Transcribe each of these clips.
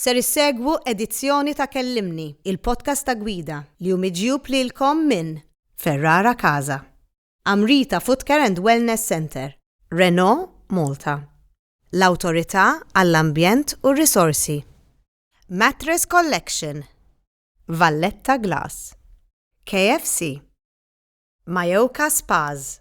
Ser issegwu edizzjoni ta' Kellimni, il-podcast ta' Gwida, li hu miġjub lilkom minn Ferrara Casa, Amrita Footcare and Wellness Centre, Renault Malta, l-Awtorità għall-Ambjent u r-Risorsi, Mattress Collection, Valletta Glass, KFC, Mayoka Spas,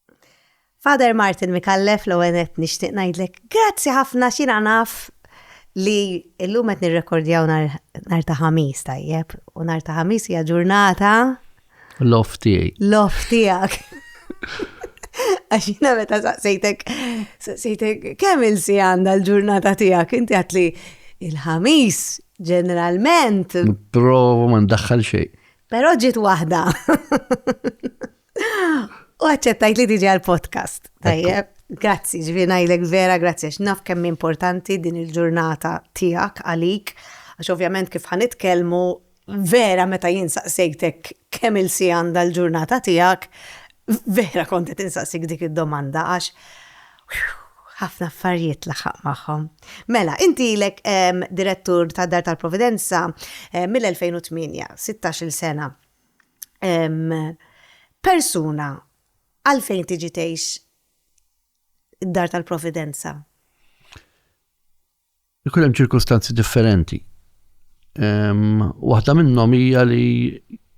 Father Martin Mikallef l għenet nixtieq ngħidlek grazzi ħafna xina naf li illum qed nirrekordjaw nar ta' ħamis tajjeb u nar ta' ħamis hija ġurnata Lof tiegħi. Lof tiegħek. Għax jina meta saqsejtek, saqsejtek, kemm il-si għanda l-ġurnata tijak, inti għatli il-ħamis, ġeneralment. Provo ma ndaħħal xej. Pero ġit wahda. U għacċettajt li tiġi għal-podcast. Tajjeb, grazzi, ġvinajlek vera, grazzi, x'naf kemm importanti din il-ġurnata tijak għalik, għax ovvjament kif ħanitkelmu vera meta jinsaqsejtek kemm il-si għanda l-ġurnata tijak, vera kontet insaqsik dik id-domanda, għax ħafna affarijiet laħaq maħħom. Mela, inti lek direttur ta' Dar tal-Providenza eh, mill-2008, 16 sena. persuna għalfejn tiġi tgħix id-dar tal-providenza? Ikun hemm ċirkustanzi differenti. Waħda minnhom hija li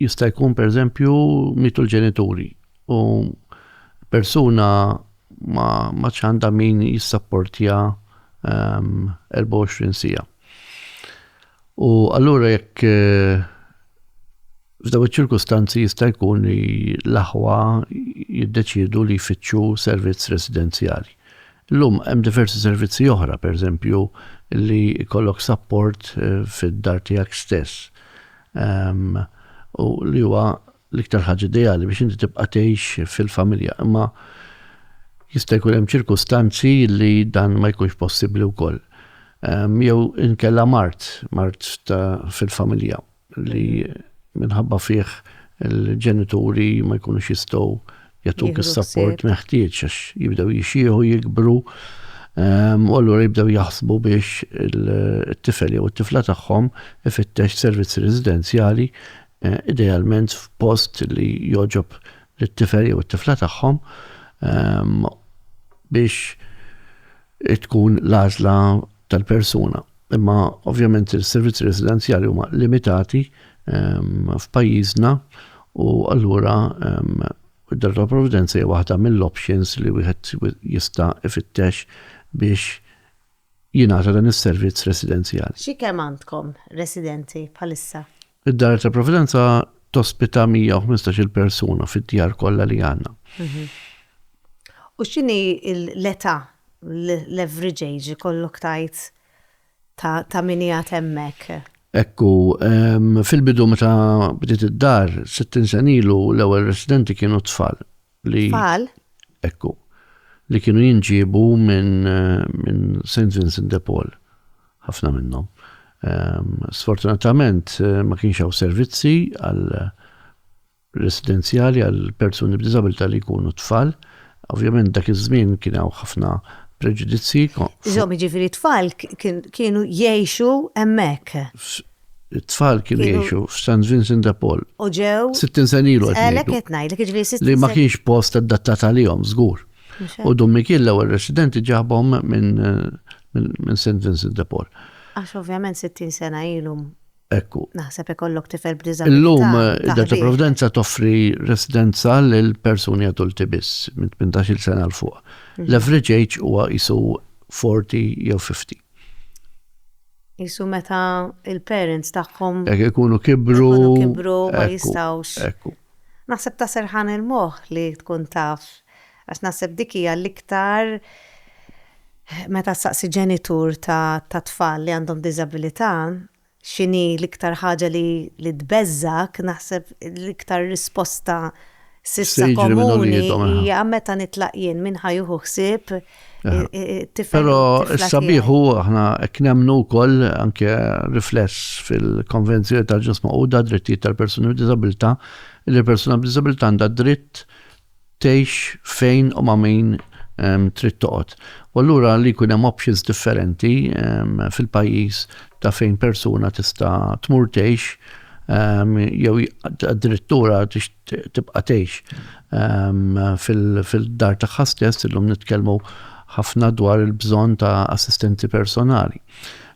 jista' jkun pereżempju mitu l-ġenituri u persuna ma ma ċanda min jissapportja 24 sija. U allura jekk f'daw iċ-ċirkustanzi jista' jkun li l-aħwa jiddeċiedu li jfittxu servizz residenzjali. Illum hemm diversi servizzi oħra, pereżempju, li jkollok support eh, fid-dar tiegħek stess. Ehm, u li huwa l-iktar ħaġa ideali biex inti tibqa' tgħix fil-familja, imma jista' jkun hemm ċirkustanzi li dan ma jkunx possibbli wkoll. Jew inkella mart, mart fil-familja li minħabba fih il-ġenituri ma jkunux jistgħu jagħtuk is-sapport meħtieġ għax jibdew jixieħu jikbru u allura jibdew jaħsbu biex it-tifel jew it-tifla tagħhom ifittex servizzi residenzjali idealment f'post li jogħġob lit-tifel jew it-tifla tagħhom biex tkun l-għażla tal-persuna. Imma ovvjament is-servizzi residenzjali huma limitati f'pajjiżna u allura id-dar tal-provvidenza hija waħda mill-options li wieħed jista' ifittex biex jingħata dan is-servizz residenzjali. Xi kemm għandkom residenti bħalissa? Id-Dar ta' Providenza tospita 115-il persuna fid-djar kollha li għandna. U x'inhi l-età, l-average age ikollok tgħid ta' min qiegħed hemmhekk? Ekku, fil-bidu meta bdiet id-dar, 60 sen ilu l-ewwel residenti kienu tfal. li Tfal. ekku li kienu jinġiebu minn min St. Vincent de Paul, ħafna minnhom. Ehm, sfortunatament eh, ma kienx hawn servizzi għal residenzjali għal persuni b'diżabilità li jkunu tfal. Ovvjament dak iż-żmien kien hawn ħafna preġudizzi. Żomm ġifieri tfal kienu jgħixu hemmhekk. It-tfal kienu jgħixu f'San Vincent de Paul. U ġew. 60 sen ilu qed Għalhekk ngħidu. qed ngħidlek jiġri 60 Li ma kienx post adattat għalihom żgur. U Dun Mikiel l-ewwel residenti ġabhom minn minn minn St Vincent de Paul. Għax ovvjament 60 sena ilu Ekku. naħseb ikollok tifel b'diżabilità. Illum ta' id-Data ħbieb. Provdenza toffri residenza lil persuni adulti biss minn 18-il sena 'l fuq. L-average age huwa qisu 40 jew 50. Qisu meta l-parents tagħhom. Hekk ikunu kibru. Ikunu kibru ma jistgħux. Ekku. Naħseb ta' serħan il-moħħ li tkun taf għax naħseb dik hija l-iktar meta ssaqsi ġenitur ta' tfal li għandhom diżabilità x'inhi l-iktar ħaġa li tbeżżgħek naħseb l-iktar risposta s'issa komuni hija meta nitlaq jien min ħa jieħu ħsieb Pero s-sabiħ u aħna knemnu kol anke rifless fil-konvenzjoni tal-ġus maquda drittijiet tal-persuni b'dizabilta li l-persuna b'dizabilta għandha dritt tgħix fejn u ma' min trid toqgħod. U allura li jkun hemm options differenti fil-pajjiż ta' fejn persuna tista' tmur tgħix jew addirittura tibqa' tgħix fil-dar tagħha stess, illum nitkellmu ħafna dwar il-bżonn ta' assistenti personali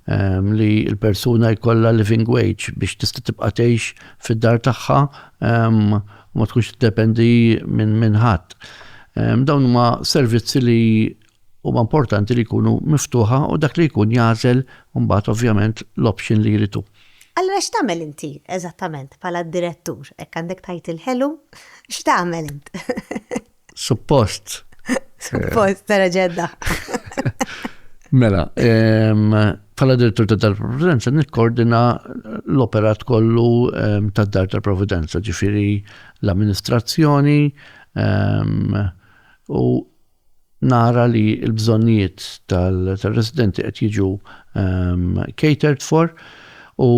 li l-persuna jkollha living wage biex tista' tibqa' tgħix fid-dar tagħha ma tkunx tiddependi minn ħadd. Dawn huma servizzi li huma importanti li jkunu miftuħa u dak li jkun jagħżel mbagħad ovvjament l-option li jrid hu. Allura x'tagħmel inti eżattament bħala direttur? Hekk għandek tgħid il-ħelu? X'tagħmel int? Suppost. Suppost, tara ġedda. Mela, bħala direttur ta' dar providenza nikkordina l-operat kollu ta' dar ta' providenza, ġifiri l-amministrazzjoni u nara li l-bżonnijiet tal-residenti qed jiġu catered for u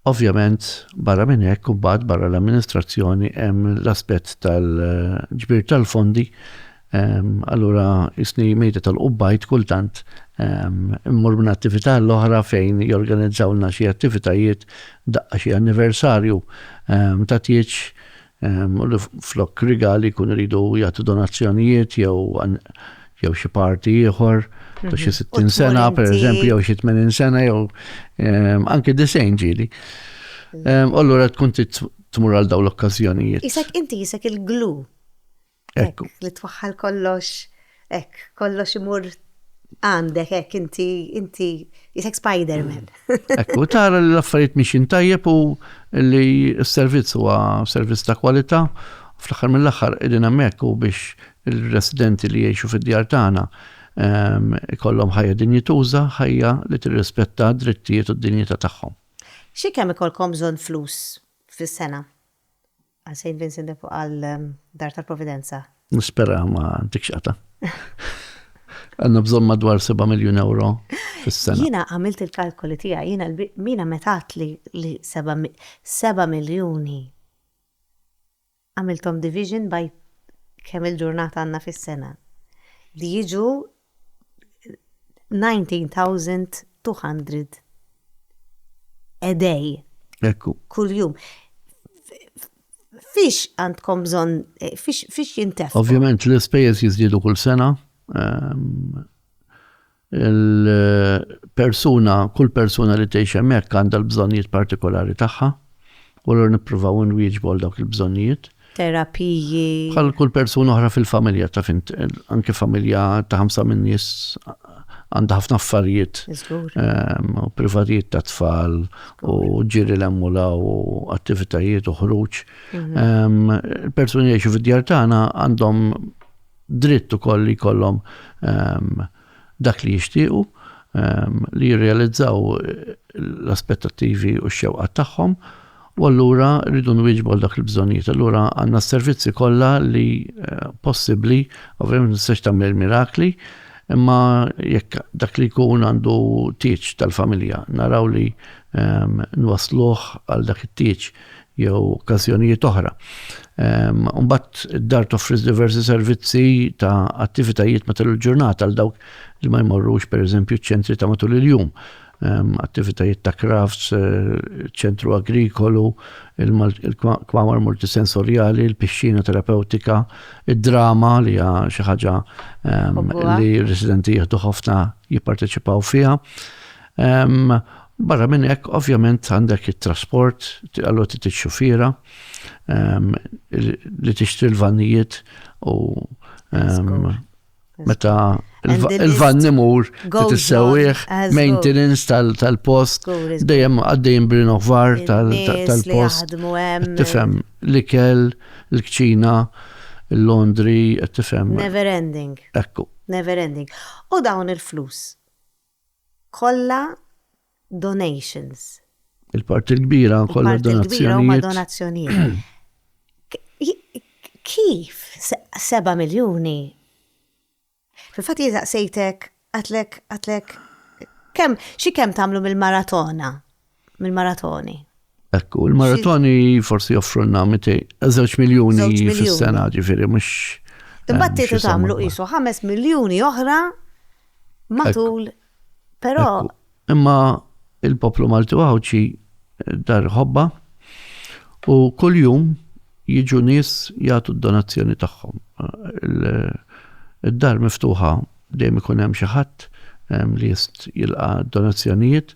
ovvjament barra minn hekk u mbagħad barra l-amministrazzjoni hemm l-aspett tal-ġbir tal-fondi allura isni mejda tal-qubbajt kultant immur minn attività l-oħra fejn jorganizzawlna xi attivitajiet daqqa xi anniversarju ta' tieġ u li flok rigali jkunu jridu jagħtu donazzjonijiet jew jew xi parti ieħor ta' xi 60 sena pereżempju jew xi 80 sena jew anke disejn ġieli. U allura tkun tmur għal dawn l-okkażjonijiet. Isek inti isek il-glu. Hekk, li twaħħal kollox, hekk, kollox imur għandek, hekk, inti, inti, jisek Spider-Man. Hekk, u tara li l-affarijiet miexin tajjeb u li s-servizz huwa servizz ta' kwalità, fl-aħħar mill-aħħar qegħdin hemmhekk u biex il-residenti li jgħixu fid-djar tagħna ehm, ikollhom ħajja dinjituża, ħajja li tirrispetta d-drittijiet u d-dinjità tagħhom. Xi kemm ikolkom bżonn flus fis-sena? Għal xejn Vincent de fuq għal Dar tal-Providenza. Nispera ma ntikx qata. Għandna bżonn madwar 7 miljun ewro fis-sena. Jiena għamilt il-kalkoli tiegħi, jiena Mina meta għedt li li seba' seba' miljuni għamilthom division by kemm il-ġurnata għandna fis-sena li jiġu 19,200 a day. Ekku. Kuljum. Fiex għandkom bżonn, fiex jintef? Ovvjament l-ispejjeż jiżdiedu kull sena. Ehm, il-persuna, kull persuna li tgħix hemmhekk għandha l-bżonnijiet partikolari tagħha u l nippruvaw nwieġbu għal dawk il-bżonnijiet. terapiji. Bħal kull persuna oħra fil-familja ta' fint, anke familja ta' ħamsa minn nies għandha ħafna affarijiet ehm, u privatijiet ta' tfal u ġiri l-emmula u attivitajiet u ħruġ. Mhm. Ehm, persuni jiexu fid-djar tagħna għandhom dritt ukoll li jkollhom ehm, dak li jixtiequ, li jirrealizzaw l-aspettattivi u x-xewqat tagħhom, u allura rridu nwieġbu għal dak il-bżonnijiet. Allura għandna s-servizzi kollha li possibbli, ovvjament ma tistax tagħmel il-mirakli, imma jekk dak li jkun għandu tieġ tal-familja naraw li nwassluh għal dak it-tieġ. jew okkażjonijiet oħra. Mbagħad id-dar toffri diversi servizzi ta' attivitajiet matul il-ġurnata għal dawk li ma jmorrux pereżempju ċ-ċentri ta' matul il-jum. Attivitajiet ta' crafts, eh, ċentru agrikolu, il-kwamar multisensorjali, il-pixxina terapeutika, id-drama li hija xi ħaġa li r-residenti jieħdu ħafna jipparteċipaw fiha. Barra minn hekk, ovvjament għandek it-trasport, allura trid ix-xufiera ehm, li tixtri l-vannijiet u ehm, meta il-van nimur tissewwieħ, maintenance tal-post, dejjem għaddejjem b'rinnovar tal-post. Tifhem l-ikel, l-kċina, l-laundry, tifhem. Never ending. Ekku. Never ending. U dawn il-flus kollha donations. Il-parti l-kbira kollha donazzjonijiet. donazzjonijiet. Kif 7 miljuni? Fil-fatt jizaqsejtek, għatlek, għatlek, kemm xi kemm tagħmlu mill-maratona? mill-maratoni. Ekku, il-maratoni forsi joffrunna 200 miljoni fis-sena ġifiri, mux. Imbagħad tietu tagħmlu qisu 5 miljuni oħra matul. Però. Imma il-poplu Malti Għawdxi eh, dar ħobba u kuljum jiġu nies jagħtu d-donazzjoni tagħhom. Eh, id-dar miftuħa Dejjem ikun hemm xi ħadd li jist jilqa' donazzjonijiet.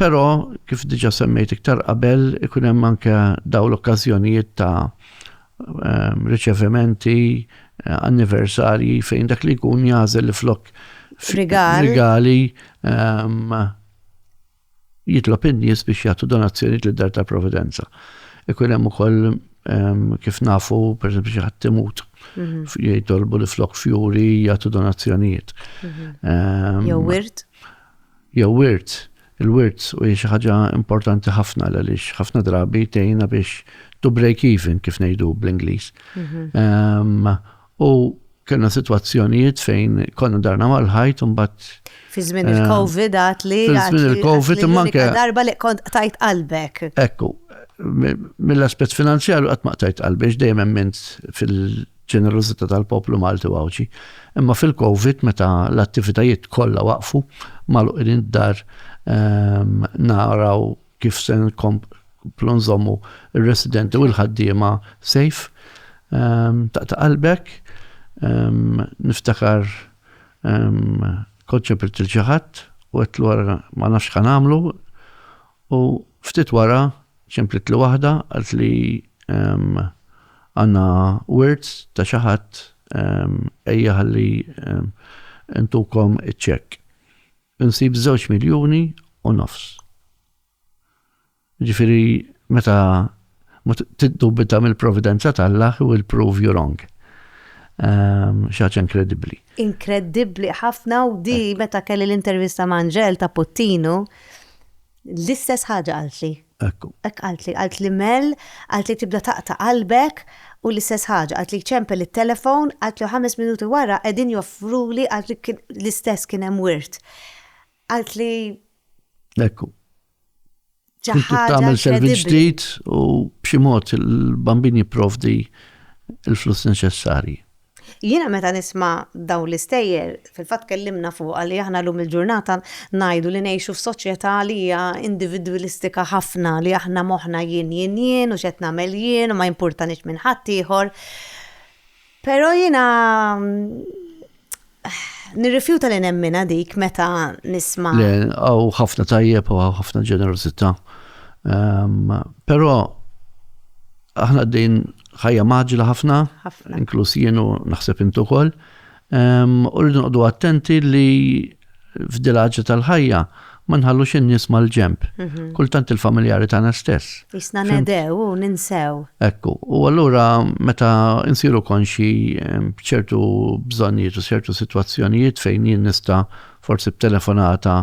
Però kif diġà semmejt iktar qabel ikun hemm anke dawn l-okkażjonijiet ta' riċevimenti, anniversarji fejn dak li jkun jagħżel li flok rigali Jitlob in-nies biex jagħtu donazzjonijiet lid-Dar tal-Providenza. Ikun hemm ukoll kif nafu, per eżempju, xi ħadd imut, jitolbu li flok fjuri jagħtu donazzjonijiet. Jew wirt? Jew wirt. Il-wirt u xi ħaġa importanti ħafna għaliex ħafna drabi tgħinna biex to break even kif ngħidu bl-Ingliż. U kellna sitwazzjonijiet fejn konna darna mal-ħajt u mbagħad Fi żmien eh, il-COVID għat li. Fi żmien il-COVID imma anke. Darba li kont tajt qalbek. Ekku, mill-aspett finanzjarju qatt ma tajt qalbex dejjem emmint fil-ġenerożità tal-poplu Malti u Għawdxi. Imma fil-COVID meta l-attivitajiet kollha waqfu maluqin id-dar ehm, naraw kif se nkomplu nżommu r-residenti u l-ħaddiema safe. Ehm, taqta' qalbek, ehm, niftakar ehm, konċepilt il-ġaħat u għetlu għara ma nafx kan għamlu u ftit wara ċemplit li waħda għalt li għanna words ta' xaħat ejja għalli intukom iċċek. Insib żewġ miljuni u nofs. Ġifieri meta ma tiddubita mill-providenza t'Alla he will prove you wrong. Ehm, xi ħaġa inkredibbli. Inkredibbli ħafna u di meta kelli l-intervista ma' Angel ta' Puttinu, L-istess ħaġa qaltli. Hekk hu. Hekk qaltli. Qaltli Mel, qaltli tibda taqta' qalbek u l-istess ħaġa. Qaltli jċempel it-telefon, qaltli u ħames minuti wara qegħdin joffruli, qaltli kien l-istess kien hemm wirt. Qaltli. Hekk hu. Xi ħaġa. Trid tagħmel servizz ġdid u b'xi mod il-bambin jipprovdi l-flus neċessarji. Jiena meta nisma' dawn l-istejjer, fil-fatt tkellimna fuqha li aħna llum il-ġurnata ngħidu li ngħixu f'soċjetà li hija individwilistika ħafna, li aħna moħħna jien, jien, jien u x'qed nagħmel jien u ma jimpurtanix minn ħaddieħor. Però jiena nirrifjuta li nemminha dik meta nisma'. Le, hawn ħafna tajjeb u hawn ħafna ġenerożità. Però aħna qegħdin ħajja maġla ħafna, inkluż jienu naħseb intu kol, u rridu noqdu attenti li f'dilaġi tal-ħajja ma nħallux in-nies mal-ġemp. Mhm. Kultant il-familjari tagħna stess. Isna nedew u ninsew. Ekku, u allura meta insiru konxi b'ċertu bżonnijiet u ċertu sitwazzjonijiet fejn jien nista' forsi b'telefonata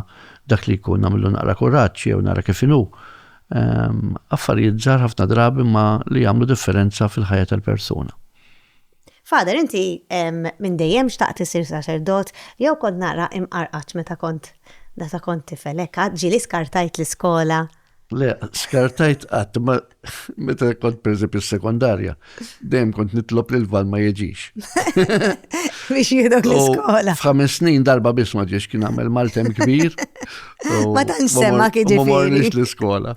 dak li jkun nagħmlu naqra kuraġġ jew nara kif inhu affarijiet ġar ħafna drabi ma li jagħmlu differenza fil-ħajja tal-persuna. Fader, inti minn dejjem xtaqt isir saċerdot jew kont naqra imqarqat meta kont data kont tifel hekk ġieli skartajt l-iskola. Le, skartajt qatt ma meta kont pereżempju s-sekondarja. Dejjem kont nitlob li l-val ma jiġix. Biex jidok l-iskola. F'ħames snin darba biss ma ġiex kien għamel maltem kbir. Ma dan semma kien ġifieri. Ma morniex l-iskola.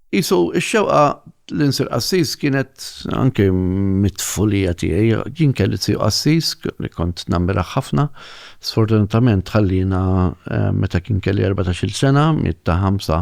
Isu, ix-xewqa l-insir qassis kienet anke mitfulija tiegħi, jien kelli tiegħu qassis li kont nammira ħafna. Sfortunatament ħallina meta kien kelli 14-il sena, mitta 5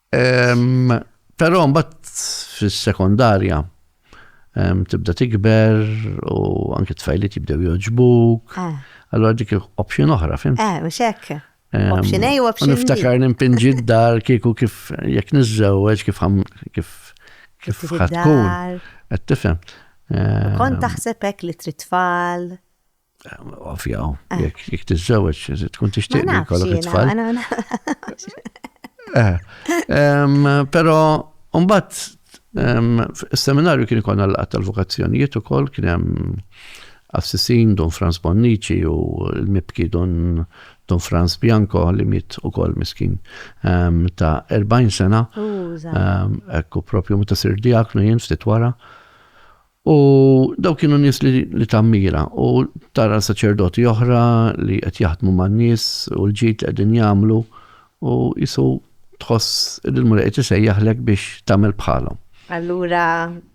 Però mbagħad fis-sekondarja tibda tikber u anke tfajliet jibdew joġbuk. Eh. Allora dik option oħra, fim? Eh, mhux hekk. Option A u option B. Niftakar nimpinġi d-dar kieku kif jekk niżżewweġ kif kif kif ħatkun. Qed tifhem. Kont taħseb hekk li trid tfal. Ovvjaw, ah. jek tizzawġ, tkun tixtieq li kollok it-tfal. Eh, Pero, umbat, seminarju kien ikon għal tal-vokazzjonijiet u koll kien hemm Assisin, Don Franz Bonnici u l-mibki Don Don Franz Bianco li mit u kol miskin um, ta' 40 sena. Um, ekku propju meta sir diaknu jien ftit wara. U dawk kienu nies li tammira u tara saċerdoti oħra li qed jaħdmu man-nies u l-ġid li qegħdin jagħmlu u jisu tħoss li l-Mulej qed isejjaħlek biex tagħmel bħalhom. Allura,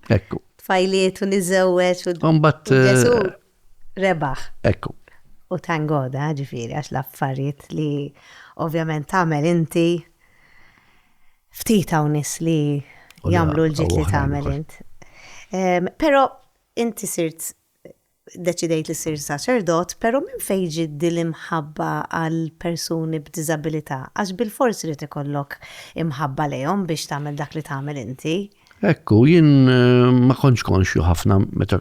tfajliet u niżewweġ u Mbagħad rebaħ. Ekku. U tangoda, eh, ġifiri, għax l-affarijiet li ovvjament tagħmel inti ftit hawn nis li jagħmlu l-ġit li tagħmel int. Però inti sirt deċidejt li sir saċerdot, pero minn fejġi dil-imħabba għal persuni b'dizabilità, għax bil-fors li ikollok imħabba lejhom biex tagħmel dak li tagħmel inti. Ekku, jien ma kontx konxju ħafna meta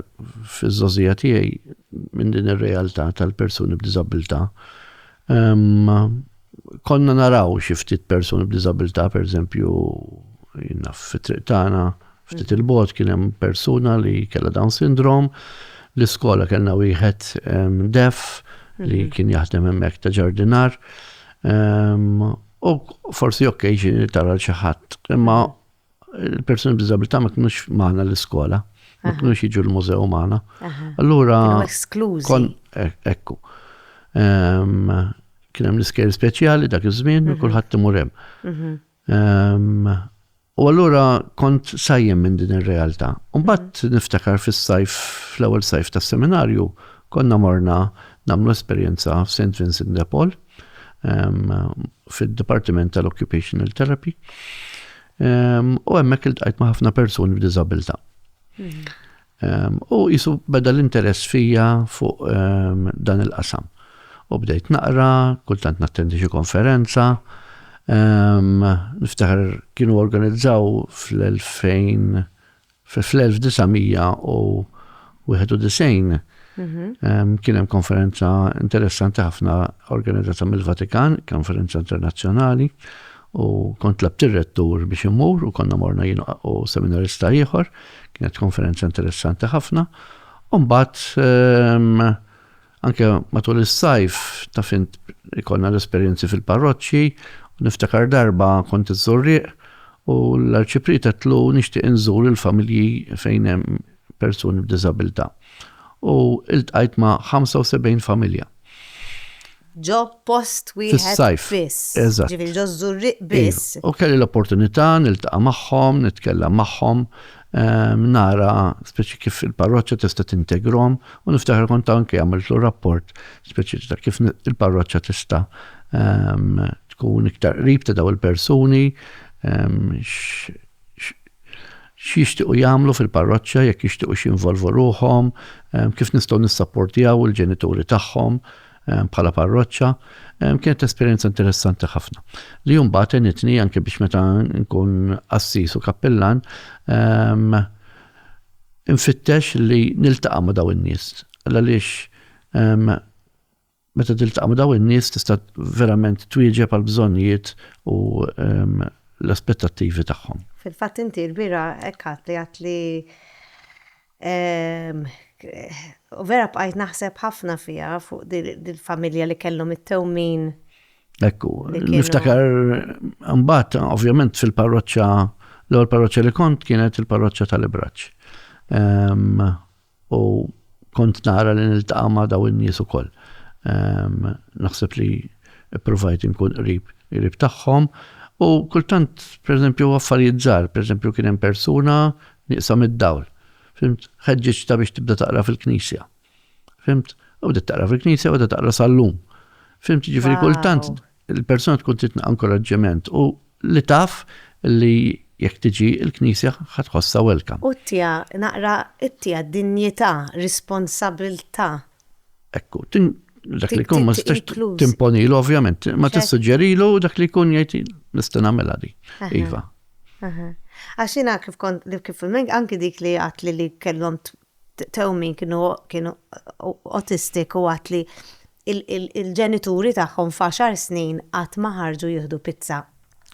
fiż-żożija tiegħi minn din ir-realtà tal-persuni b'diżabilità. Konna naraw xi ftit persuni b'diżabilità, pereżempju, jien naf fit-triq tagħna ftit il-bogħod kien hemm persuna li kellha Down Syndrome, l-iskola kellna wieħed deaf li kien jaħdem hemmhekk ta' ġardinar. U forsi okkasion li tara lil xi ħadd, imma Il-persuni b'diżabilità ma kinux magħna l-iskola, ma kinux jiġu l-mużew magħna. Allura. Esklużi. E-, ekku. Ehm, kien hemm l-iskejl speċjali dak iż-żmien u mhm. kulħadd imur hemm. Mhm. Ehm, u allura kont sajjem minn din ir-realtà. Mbagħad mhm. niftakar fis-sajf fl-ewwel sajf tas-seminarju konna morna nagħmlu esperjenza f'St. Vincent de Paul. fid-Dipartiment tal-Occupational Therapy. U hemmhekk iltqajt ma' ħafna persuni b'diżabilità. Mhm. U jisu beda l-interess fija fuq dan il-qasam. U bdejt naqra, kultant nattendi xi konferenza, niftakar kienu organizzaw fl-2000 Fl-1991 kien hemm konferenza interessanti ħafna organizzata mill-Vatikan, konferenza internazzjonali, u kont tlabt ir-rettur biex immur u konna morna jien u seminarista ieħor, kienet konferenza interessanti ħafna. U mbagħad Anke matul is-sajf ta' fint ikollna l-esperjenzi fil-parroċċi, u niftakar darba kont iż-Żurrieq u l-Arċipriet għedtlu nixtieq inżur il-familji fejn hemm persuni b'diżabilità. U iltqajt ma' 75 familja. Ġo post wieħed biss. Ġifieri ġo ż-Żurrieq biss. U kelli l-opportunità niltaqa' magħhom, nitkellem magħhom, Ehm, nara speċi kif il-parroċċa tista' tintegrom u niftaħar kont anke għamiltlu rapport speċi ta' kif il-parroċċa tista' ehm, tkun iktar qrib ta' daw il-persuni ehm, x'jixtiequ jagħmlu fil-parroċċa jekk jixtiequ x'involvu ruħhom, kif nistgħu nissapportjaw il-ġenituri tagħhom, bħala parroċċa, kienet esperjenza interessanti ħafna. Li jumbat enitni anke biex meta nkun assis u kappillan, infittex li niltaqa' ma' daw in-nies. Għaliex meta tiltaqa' ma' daw in-nies tista' verament twieġeb għal bżonnijiet u l-aspettattivi tagħhom. Fil-fatt inti l-bira hekk għad li għad li U vera bqajt naħseb ħafna fiha fuq dil-familja li kellhom it-tewmin. Ekku, niftakar mbagħad ovvjament fil-parroċċa l-ewwel parroċċa li kont kienet il-parroċċa tal-Ibraċ. Ehm, u kont nara li niltaqa' ma' daw in-nies ukoll. Ehm, naħseb li provajt inkun qrib qrib tagħhom. U kultant, per eżempju, affarijiet żgħar, per eżempju, kien hemm persuna Nieqsa mid-dawl. Fhimt? Ħeġġiġtha biex tibda taqra fil-knisja. Fhimt? U bdiet taqra fil-knisja u qiegħda taqra sal-lum. Fhimt? Jiġifieri kultant il-persuna tkun trid inkoraġġiment u li taf li jekk tiġi l-knisja ħa tħossha welcome. U ttiha naqra ttiha dinjità, responsabilità. Ekku. Dak li jkun ma tistax timponilu ovvjament, imma tissuġġerilu u dak li jkun jgħid nista' nagħmilha din. Iva. Aha. Għax jiena kif kont kif anki dik li għatli li kellhom tewmin kienu kienu autistic u għatli il-ġenituri tagħhom f'għaxar snin qatt ma ħarġu jieħdu pizza.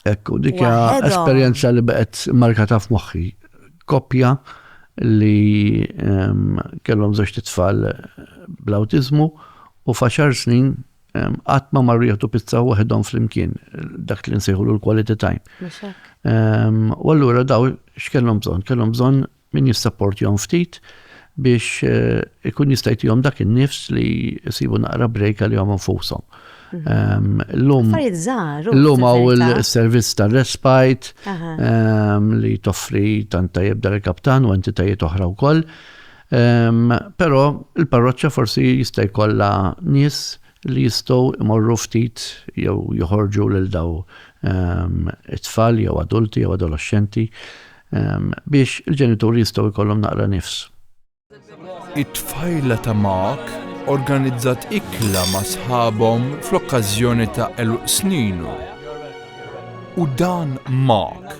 Hekk u dik esperjenza li baqgħet markata f'moħħi. Koppja li ehm, kellhom żewġ tfal bl-awtiżmu u f'għaxar snin Qatt ma marru jieħdu pizza waħedhom flimkien, dak li nsejħulu l-quality time. U allura daw x'kellhom bżonn? Kellhom bżonn min jissapportjhom ftit biex eh, ikun jistajtijom dak il-nifs li jisibu naqra break li jom nfusom. Mhm. L-lum għaw il-servizz ta' respite li toffri tanta jibda l-kaptan u entitajiet oħra u koll. Però l-parroċċa forsi jista' jkollha nies li jistgħu jmorru ftit jew joħorġu lil daw it-tfal jew adulti jew adoloxxenti biex il-ġenituri jistgħu jkollhom naqra nifs. It-tfajla ta' Mark organizzat ikla ma' sħabhom fl-okkażjoni ta' għeluq sninu. U dan Mark!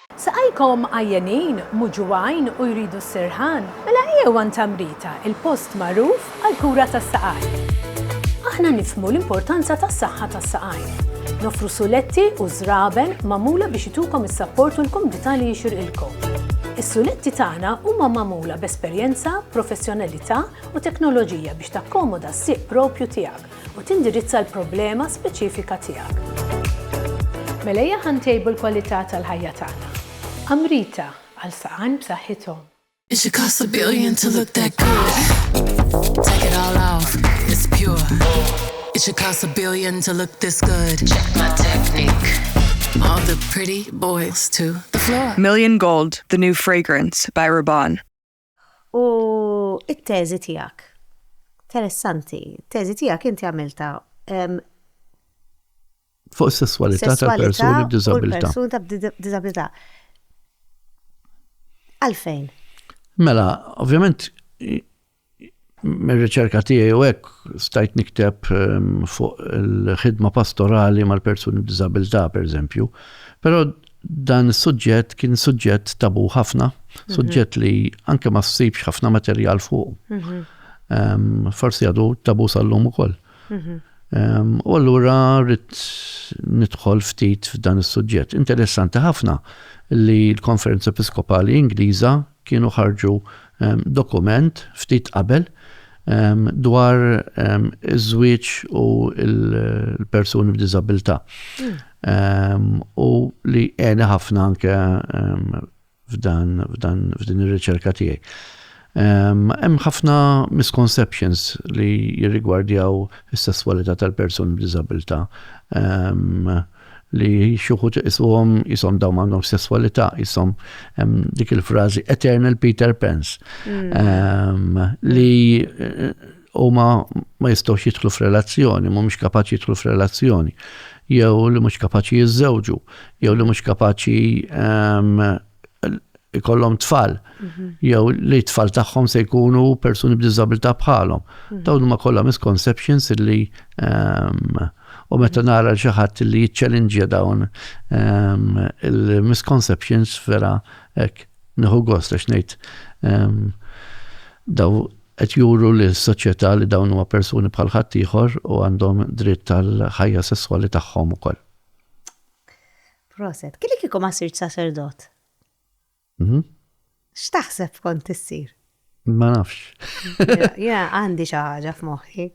Saqajkom għajjenin, muġugħin u jridu s-sirħan? Mela ejjew għand Tamrita, il-post magħruf għall-kura tas-saqajn. Aħna nifhmu l-importanza tas-saħħa tas-saqajn. Noffru suletti u żraben magħmula biex itukom is-sapport u l-kumdità li jixirqilkom. Is-suletti tagħna huma magħmula b'esperjenza, professjonalità u teknoloġija biex takkomoda s-sieq proprju tiegħek. u tindirizza l-problema speċifika tiegħek. Mela ejja ħa ntejbu l-kwalità tal-ħajja tagħna. Amrita, għal saqajn b'saħħithom. It should cost a billion to look that good Take it all off, it's pure It should cost a billion to look this good Check my technique All the pretty boys to the floor Million Gold, the new fragrance by Rabanne. U t-teżi tiegħek. Interessanti, teżi tiegħek inti għamilta fuq is-sesswalità tal-persuni b'diżabilità. Persuni b'diżabilità. Għalfejn? Mela, ovvjament Mir-riċerka tiegħi u hekk stajt nikteb fuq il-ħidma pastorali mal-persuni b'diżabilità, pereżempju. Però dan is-suġġett kien suġġett tabu ħafna, mhm. suġġett li anke ma ssibx ħafna materjal fuq. Mhm. Forsi għadu tabu sal-lum ukoll. Mhm. U allura rrit nidħol ftit f'dan is-suġġett. Interessanti ħafna li l-Konferenza Episkopali Ingliża kienu ħarġu dokument ftit qabel dwar iż-żwieġ u l-persuni b'diżabilità. U li għeni ħafna anke f'dan f'din ir-riċerka tiegħi. Hemm ħafna misconceptions li jirrigwardjaw is-sesswalità tal-persuni b'diżabilità. li xi wħud iqisuhom jisom dawn għandhom sesswalità, jisom dik il-frażi Eternal Peter Pans mm. li eh, huma ma jistgħux jidħlu f'relazzjoni, mhumiex kapaċi jidħlu f'relazzjoni, jew li mhux kapaċi jiżżewġu, jew li mhux kapaċi ikollhom tfal, mhm. jew li tfal tagħhom se jkunu persuni b'diżabilità bħalhom. Mhm. Dawn huma kollha misconceptions li ehm, u meta mhm. nara xi ħadd li jiċċellinġja dawn ehm, il-misconceptions vera hekk nieħu gost għax ngħid ehm, daw qed juru li s-soċjetà li dawn huma persuni bħal ħadd ieħor u għandhom dritt tal-ħajja sesswali tagħhom ukoll. Proset. Kili kiku ma sirt sacerdot? Mhm. X'taħseb kont tissir? Ma nafx. Ja, għandi xi ħaġa f'moħħi.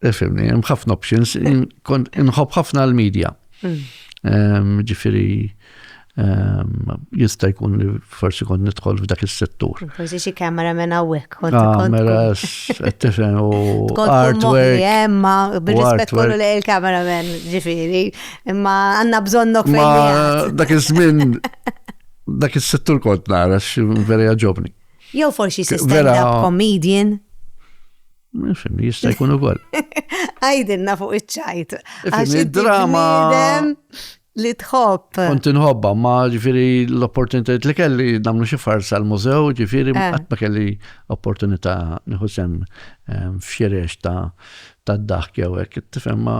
Efimni, hemm ħafna options, kont inħobb ħafna l-medja. Mm. Ġifieri jista' jkun li forsi kont nidħol f'dak is-settur. Forsi xi kamera minn hawnhekk kont Kameras, qed tifhem u artwork. Imma bir-rispett kollu lejn il-kamera men, ġifieri, imma għandna bżonnok fejn. Dak iż-żmien dak is-settur kont nara x'veri ġobni. Jew forsi xi stand-up comedian. Nifhem, jista' jkun ukoll. Għajdilna fuq iċ-ċajt. Id-drama. li tħobb. Kont inħobba, ma ġifiri l-opportunitajiet li kelli namlu xi farsa l-mużew, ġifiri eh. qatt ma kelli opportunità nieħu sem ehm, f'xirex ta' ta' daħk jew hekk, tifhem ma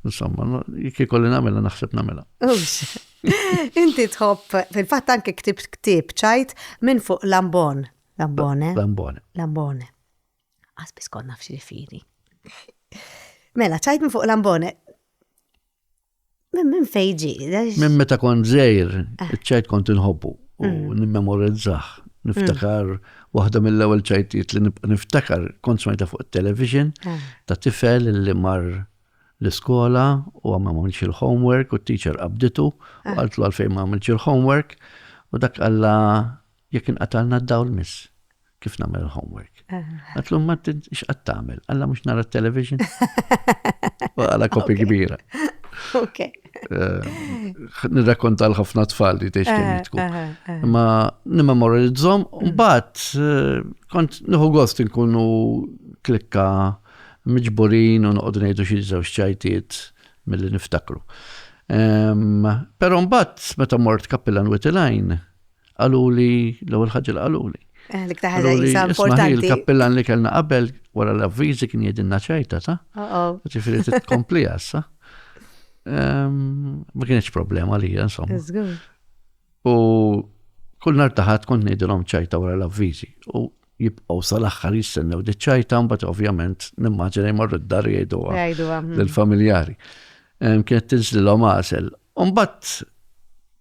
insomma, jekk ikolli nagħmilha naħseb nagħmilha. Inti tħobb, fil-fatt anke ktib ktib ċajt minn fuq Lambon. Lambone. Lambone. Lambone. Għasbis konna f'xi firi. Mela, ċajt minn fuq l-ambone. Minn fejġi. Minn meta kon zejr, ah. ċajt kont inħobbu u mm. nimmemorizzaħ. Niftakar mm. waħda mill-ewwel ċajtiet li niftakar kont smajta fuq television ah. ta' tifel li mar l-iskola u għamma ma għamilx il-homework u t-teacher qabditu u ah. għaltlu għalfejn ma għamilx il-homework u dak għalla Jekk inqatagħlna d-dawl miss, kif nagħmel il-homework? Għatlu Martin, x'qatt tagħmel? Alla mhux nara t-television? Għala kopi kbira. Ok. Eh, nirrakkonta l-ħafna tfal li tex kemm jitku. Eh, eh, Ma nimmemorizzhom, mm. mbagħad kont nieħu gost inkunu klikka miġburin u noqogħdu ngħidu xi żewġ ċajtiet milli niftakru. Però mbagħad meta mort Kappilan Witilajn, qaluli l-ewwel ħaġa li qaluli. Eh, l-iktar ħaġa jisa importanti. Il-kappillan li kellna qabel wara l-avviżi kien jgħidilna ċajta ta'. Ġifieri titkompli għassa. Ehm, ma kienx problema li insomma. U kull nar taħat kont ngħidilhom ċajta wara l-avviżi. U jibqgħu sal-aħħar jistennew di ċajta mbagħad ovvjament nimmaġina jmorru d-dar jgħiduha lill-familjari. Ehm, kienet tinżlilhom għasel Umbat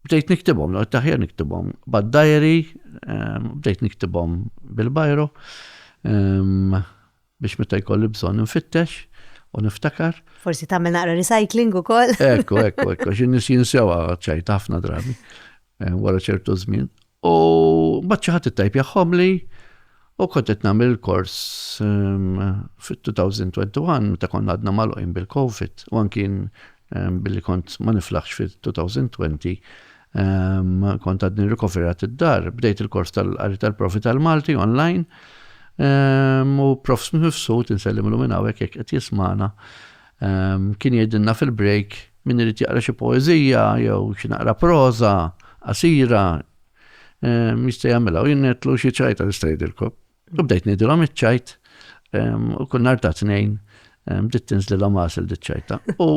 bdejt niktibhom, l taħjar niktibhom, bad diary, ehm, bdejt niktibhom bil-bajro, ehm, biex meta jkolli bżonn nfittex u niftakar. Forsi tagħmel naqra recycling ukoll. Ekku, ekku, ekku, xi nies jinsewa ċajt ħafna drabi eh, wara ċertu żmien. U mbagħad xi ħadd ittajpjahomli u kont qed nagħmel il-kors ehm, fit-2021 meta konna għadna magħluqin bil-COVID u anki ehm, billi kont ma niflaħx fit-2020 ehm, kont għadni rikoverat id-dar, bdejt il-kors tal-qari tal-profi tal-Malti online u prof mifsud insellimlu minn hawnhekk jekk qed jismana kien jgħidilna fil-break Min irid jaqra xi poeżija jew xi naqra proża qasira, jista' jagħmilha u jien ngħidlu xi ċajta nista' ngħidilkom. U bdejt ngħidilhom iċ-ċajt u kull nhar ta' tnejn bdiet tinżlilhom għasel diċ-ċajta. U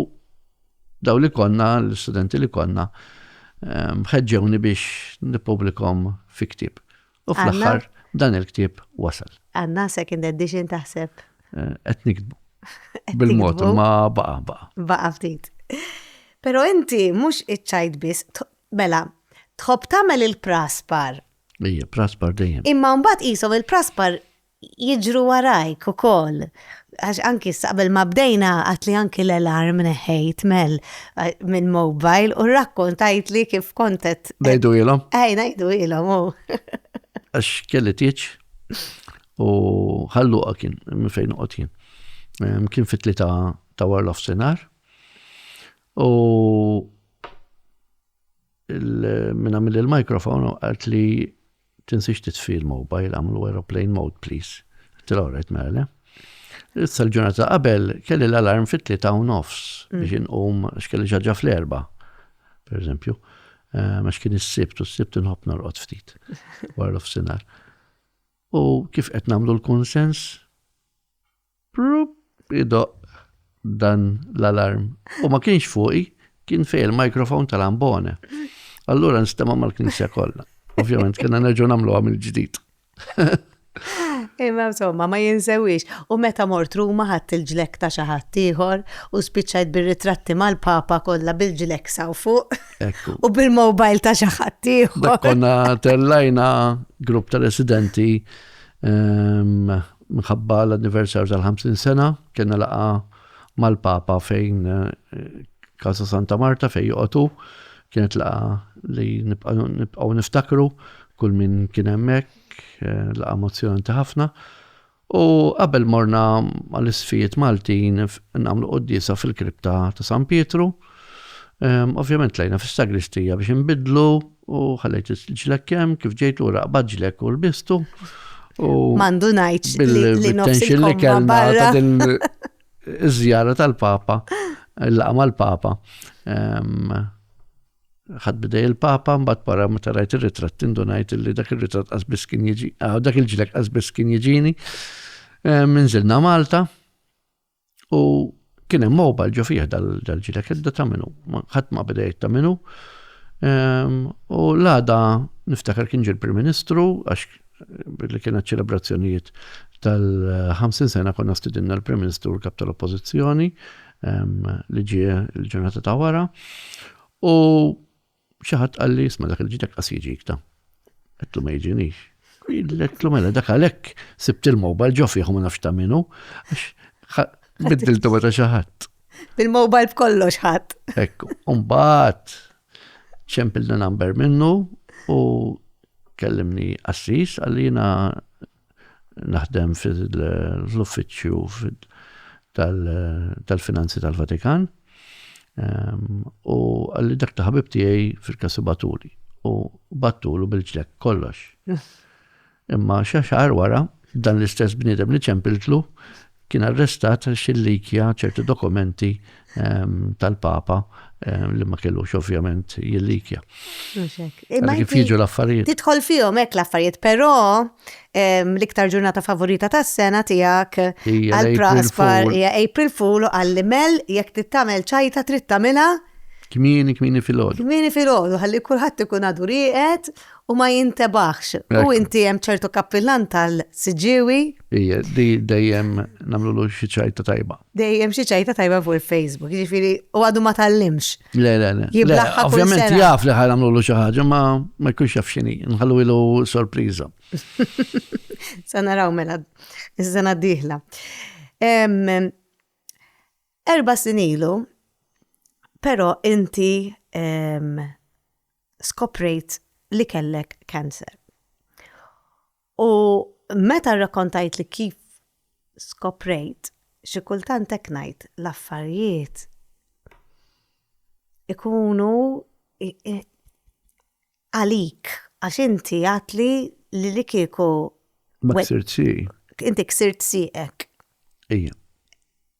daw li konna, l-istudenti li konna, ħeġġewni biex nippubblikhom fi ktieb. U fl-aħħar dan il-ktieb wasal. Għanna second edition taħseb. Eh, qed nikbu. Bil-mod ma baqa baqa. Baqa ftit. Pero inti mhux iċċajt biss, mela, tħobb tagħmel il-praspar. Ija, praspar dejjem. Imma mbagħad qishom il-praspar jiġru warajk ukoll. Għax anki issa qabel ma bdejna għadtli anki l-alarm neħħejt Mel mill-mobile u rrakkontajtli kif kont qed. Ngħiduhielhom? Ej, ngħiduhielhom hu. Għax kelli tieġ u Ħal Luqa kien minn fejn noqgħod jien. Kien fit-tlieta ta' wara l-ofsinhar u minn għamilli l-mikrofon u qaltli Tinsiex titfi l-mobile agħmlu aeroplane mode please. Qed tilgħu rajt mela le? Issa l-ġurnata ta' qabel kelli l-alarm fit-tlieta u nofs biex inqum għax kelli xi ħaġa fl-erbgħa. Pereżempju, għax kien is-sibt u s-sibt inħobb norqod ftit wara l-ofsinhar. U kif qed nagħmlu l-kunsens? Pruup idoqq dan l-alarm u ma kienx fuqi, kien fej il-microphone tal-ambone. Allura nstema' mal-knisja kollha. Ovvjament kena nerġgħu nagħmluha mill-ġdid. Imma insomma, ma jinsewix. U meta mort Ruma ħadd il-ġlekk ta' xi ħadd ieħor u spiċċajt bir-ritratti mal-Papa kollha bil-ġlekk saw fuq. Ekku. U bil-mobile ta' xi ħadd ieħor. Konna tellajna grupp ta' residenti ehm, Minħabba l-anniversarju tal-50 sena, kena laqa mal-Papa fejn Casa Santa Marta fejn joqotu, kienet laqa li nibqaw niftakru kull min kien hemmhekk, laqa mozzjonanti ħafna. U qabel morna għal-isfijiet Maltin nagħmlu qoddisa fil-kripta ta' San Pietru, ovvjament tlejna fis-sagristija biex inbidlu U ħallejt il-ġlek kemm kif ġejt lura qbad ġlek u lbistu. Mandu ngħid li nofsi li kellna ta' din iż-żjara tal-Papa, il-laqa mal-Papa. Ehm, ħad bidej il-papa, mbagħad para meta rajt ir-ritratt indunajt li dak ir-ritratt qasbis kien jiġi, ah, dak il-ġlek qasbis kien jiġini. Eh, minżilna Malta, U kien hemm mobile ġo fih dal-ġila kedda ta' minu, ħadd ma beda ta' minu. Ehm, u l-għada niftakar kien ġil prim Ministru għax li kienet ċelebrazzjonijiet tal-50 sena konna stidinna l-Prim Ministru l-Kap tal-Oppożizzjoni ehm, li ġie l-ġurnata ta' wara. U Xi ħadd qalli isma' dak il-ġid hekk qas jiġik ta. Għedtlu ma jiġinix. Għedtlu mela dak għalhekk sibt il-mobile ġo fih u ma nafx ta' minnu għax biddiltu meta xi ħadd. Bil-mobile b'kollox ħadd. Ekku, mbagħad ċempilna number minnu u kellimni assis għallina naħdem fl-uffiċċju tal-finanzi tal-Vatikan u għalli dak ta' ħabib tiegħi fil-kasu batuli u battulu bil-ġlek kollox. Imma xaxar wara dan l-istess bniedem li ċempiltlu Kien arrestat għal xillikja ċerti dokumenti tal-Papa li ma kellux ovvjament jillikja. Imma kif jiġu l-affarijiet. Tidħol fihom hekk l-affarijiet, però l-iktar ġurnata favorita tas-sena tiegħek għal Praspar hija April Fool u għalli mel jekk tittamel ċajta trid tagħmilha Kmini, kmini fil-ħodu. Kmini fil-ħodu, għalli kulħadd ikun għadu rieqed u ma jintebaħx. U inti hemm ċertu kappillan tal-Siġġiewi? Ija, di dejjem nagħmlulu xi ċajta tajba. Dejjem xi ċajta tajba fuq il-Facebook, jiġifieri u għadu ma tgħallimx. Le, le, le. Jiblaħħa kull sena. Ovvjament jaf li ħa nagħmlulu xi ħaġa, ma ma jkunx jaf x'inhi, nħallu ilu sorpriża. Sa naraw mela, is-sena d-dieħla. Erba' snin ilu, però inti ehm, skoprejt li kellek cancer. U meta rrakkontajt li kif skoprejt, xi kultant hekk ngħid l-affarijiet ikunu għalik għax inti għatli li li kieku. Ma ksirt Inti ksirt sieqek. Ija.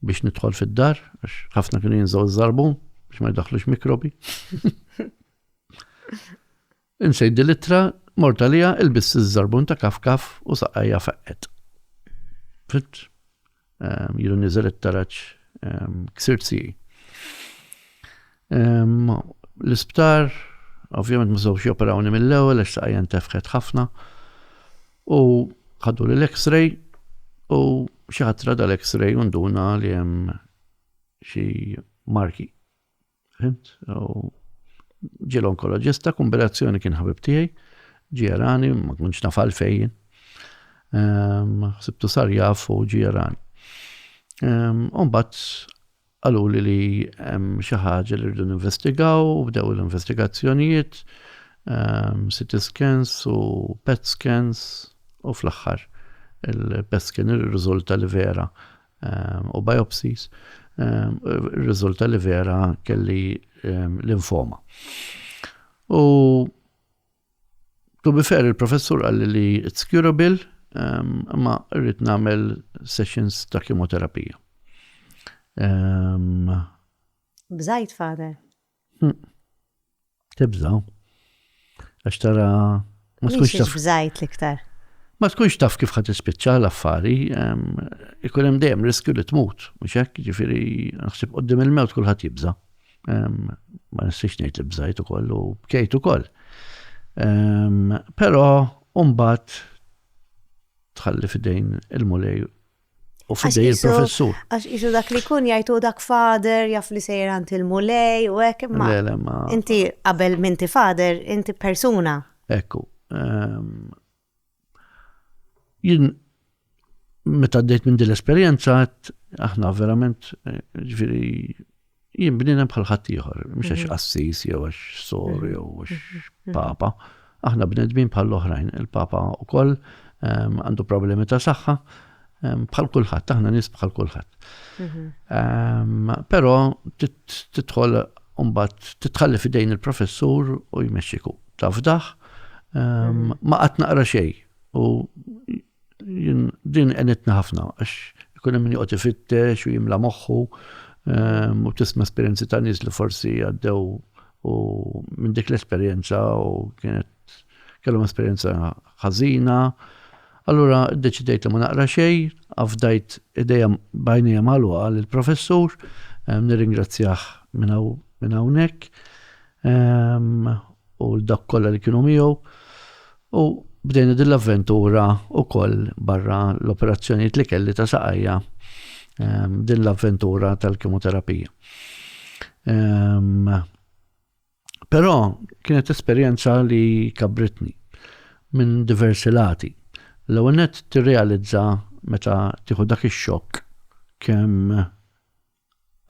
biex nidħol fid-dar, għax ħafna kienu jinżaw iż-żarbun biex ma jdaħlux mikrobi. Insejdi l-ittra, morta lija, il-biss iż-żarbun ta' kaf kaf u saqajja feqqet. Fit, ehm, jiru nizel it-taraċ ehm, ksir siji. L-isptar, ovvjament ma żewx joperawni mill-ewwel għax saqajja ntefħet ħafna u ħaduli l-X-ray u xi ħadd rada l-X-ray u nduna li hemm xi marki. Fimt? Ġiel onkoloġista, kombinazzjoni kien ħabib tiegħi, ġie rani, ma kunx naf għalfejn. Ehm, Sibtu sar jaf u ġie rani. Ehm, Umbat Qaluli li hemm xi ħaġa li rridu ninvestigaw u bdew l-investigazzjonijiet, CT scans u PET scans u fl-aħħar il-PET scan irriżulta li vera u biopsies irriżulta li vera kelli linfoma. U To be fair, il-professur għalli li it's curable, ehm, ma rrit namel sessions ta' kimoterapija. Ehm, Bżajt, father. Hmm. Tibżaw. Għax tara. Ma tkunx taf. Bżajt liktar. Ma tkunx taf kif ħat ispiċċa l-affari, ehm, ikun hemm dejjem riskju li tmut, mhux hekk, ġifieri naħseb qudiem il-mewt kulħadd jibża'. ma nistix ngħid li bżajt ukoll u bkejt ukoll. Però mbagħad tħalli fidejn il-mulej u fidej il-professur. Għax isu dak li kun jajtu dak fader, jaf li sejr għant il-mulej u hekk ma. Inti qabel minti fader, inti persuna. Ekku. Ehm, Jien meta għaddejt minn din l-esperjenza għedt aħna verament ġifieri jien bniedem bħal ħaddieħor, mhux għax qassis jew għax sor jew għax papa. Aħna bnedmin bħall-oħrajn. Il-papa wkoll għandu problemi ta' saħħa, Ehm, bħal kulħadd, aħna nies bħal kulħadd. Mhm. Ehm, però titħol mbagħad titħalli fidejn il-professur u jmexxiku. Tafdaħ, ehm, mhm. ma qatt naqra xejn u din qenitna ħafna għax ikun hemm min joqgħod ifittex u jimla moħħu u tisma' esperjenzi ta' nies li forsi għaddew u minn dik l-esperjenza u kienet kellhom esperjenza ħażina, allura ddeċidejt li ma naqra xejn, afdajt idejja b'għajnejja magħluqa lill-professur, nirringrazzjah minn hawn minn hawnhekk, u l dawk kollha li kienu miegħu, u bdejna din l-avventura wkoll barra l-operazzjonijiet li kelli ta' saqajja, din l-avventura tal-kemoterapija. Però kienet esperjenza li kabbritni minn diversi lati. L-ewwel nett tirrealizza meta tieħu dak ix-xokk kemm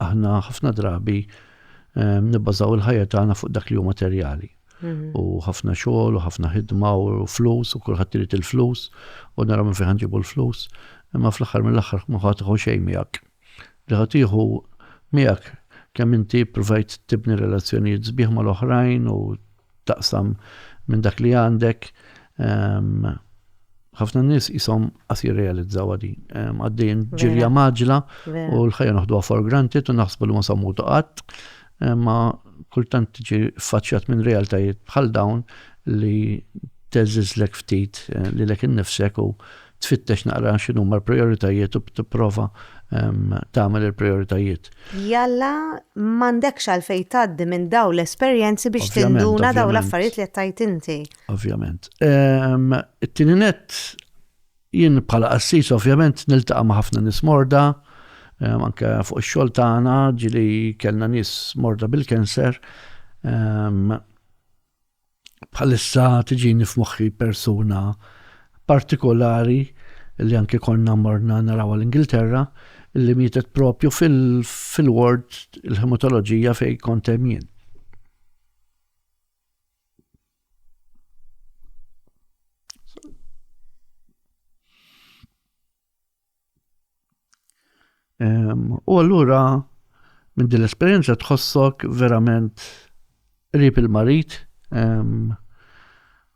aħna ħafna drabi ehm, nibbażaw il-ħajja tagħna fuq dak li hu materjali. Mhm. U ħafna xogħol, u ħafna ħidma, u flus, u kulħadd irid il-flus, u nara minn fejn ġibu l-flus, imma fl-aħħar mill-aħħar ma ħadd xejn miegħek. li ħa tieħu miegħek kemm inti ppruvajt tibni relazzjonijiet sbieħ mal-oħrajn u taqsam minn dak li għandek. Ehm, ħafna nies jisom qas jirrealizzaw għadi. Ehm, għaddejn ġirja maġla u l-ħajja naħdu for granted u naħsbu li ma sammu tuqat. Ehm, ma kultant tiġi faċċjat minn realtajiet bħal dawn li teżizlek ftit eh, li lek innifsek u tfittex naqra x'inhuma l-prijoritajiet u tipprova tagħmel il-prijoritajiet. Jalla m'għandekx għalfejn tgħaddi minn dawn l-esperjenzi biex tinduna dawn l-affarijiet li qed tgħid inti. Ovvjament. It-tieni nett jien bħala qassis ovvjament niltaqa' ma' ħafna nies morda, anke fuq ix-xogħol tagħna ġili kellna nies morda bil-kanser. bħalissa tiġini f'moħħi persuna partikolari li anke konna morna naraw l-Ingilterra li mietet propju fil-ward il-hematoloġija fej kont hemm jien. U allura minn din l-esperjenza tħossok verament qrib il-marit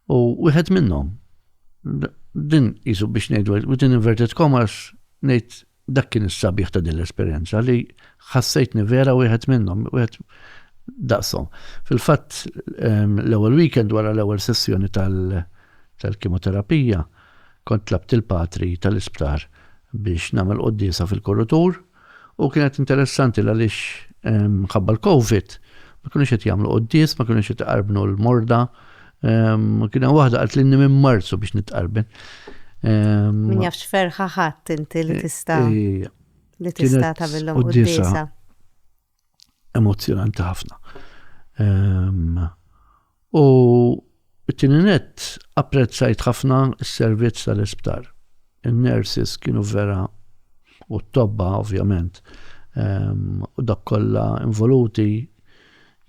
u wieħed minnhom. Din jisu biex ngħidu within inverted commas ngħid dak kien is-sabiħ ta' din l-esperjenza li ħassejtni vera wieħed minnhom, wieħed daqshom. Fil-fatt l-ewwel weekend wara l-ewwel sessjoni tal-kimoterapija, tal Kont tlabt il-patri tal-isptar biex nagħmel quddiesa fil-korutur u kienet interessanti l-għaliex mħabba l-Covid ma kienux qed jagħmlu quddies, ma kienux qed iqarbnu l-morda. Kien hemm waħda qalt lilni minn Marzu biex nitqarben. Min jafx ferħa ħadd inti li tista' li tista' tagħmilhom quddiesa. emozzjonanti ħafna. Ehm, u t-tini net apprezzajt ħafna s-servizz tal-isptar. Il-nurses kienu vera u t-tobba ovvjament ehm, u dak kollha involuti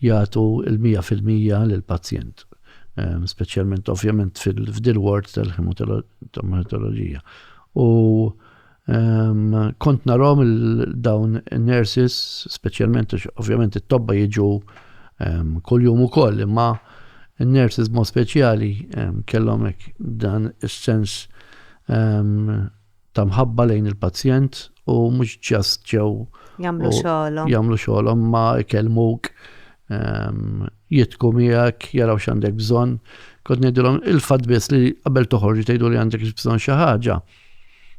jagħtu il-100% lill-pazjent ehm, speċjalment ovvjament fil-ward tal-hematoloġija. U Kont narahom dawn in-nurses, speċjalment għax ovvjament it-tobba jiġu kuljum ukoll, imma n-nurses mod speċjali kellhom hekk dan is-sens ta' mħabba lejn il-pazjent u mhux ġast ġew jagħmlu xogħolhom. Jagħmlu xogħolhom ma ikellmuk jitku miegħek, jaraw x'għandek bżonn. Kont ngħidilhom il-fatt biss li qabel toħorġi tgħidu li għandek bżonn xi ħaġa.